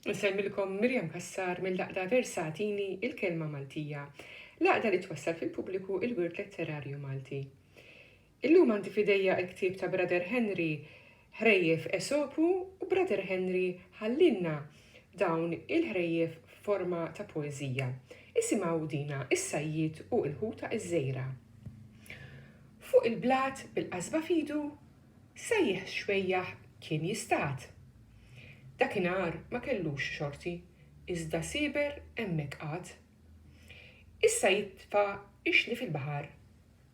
Nsellmilkom Miriam Cassar mill-Għaqda Versatini il-Kelma Maltija, l-għaqda li twassal fil-pubbliku il-wirt letterarju Malti. Illum għandi f'idejja il-ktieb ta' Brother Henry Ħrejjef Esopu u Brother Henry ħallielna dawn il-ħrejjef f'forma ta' poeżija. Isimgħu dina is-sajjied u l-ħuta iż-żgħira. Fuq il-blat bil-qasba f'idu Sejjaħ xwejjaħ kien jistad. Dakinhar ma kellux xorti, iżda sieber hemmhekk qagħad. Issa jitfa' ix-xli fil-baħar,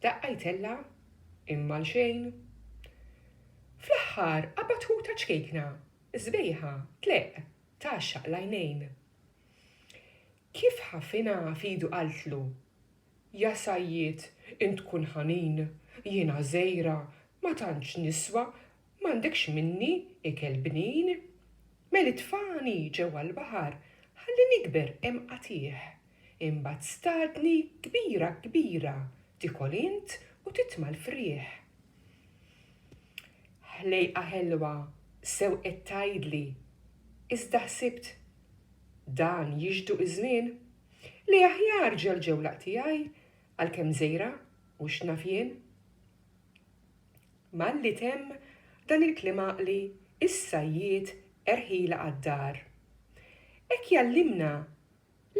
daqqa jtella' imma għal xejn. Fl-aħħar qabad ħuta ċkejkna, sbejħa, tleqq, tgħaxxaq l-għajnejn. Kif ħafina f'idu qaltlu, Ja sajjied, int tkun ħanin, jien għażejra, ma tantx niswa, m'għandekx minni ikel bnin. Mel itfagħni ġewwa l-baħar ħalli nikber hemm qatigħ. Imbagħad stadni kbira kbira tikol int u titma' l-frieħ. Ħlejqa ħelwa sew qed tgħidli, iżda ħsibt Dan jixdu iż-żmien, li aħjar ġelġewlaq tiegħi għalkemm żgħira u x'naf jien. Malli temm dan il-kliem għaqli issa jiet erħila għad-dar. Hekk jgħallimna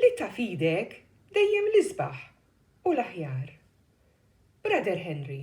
li ta' f'idek dejjem l-isbaħ u l-aħjar. Brother Henry.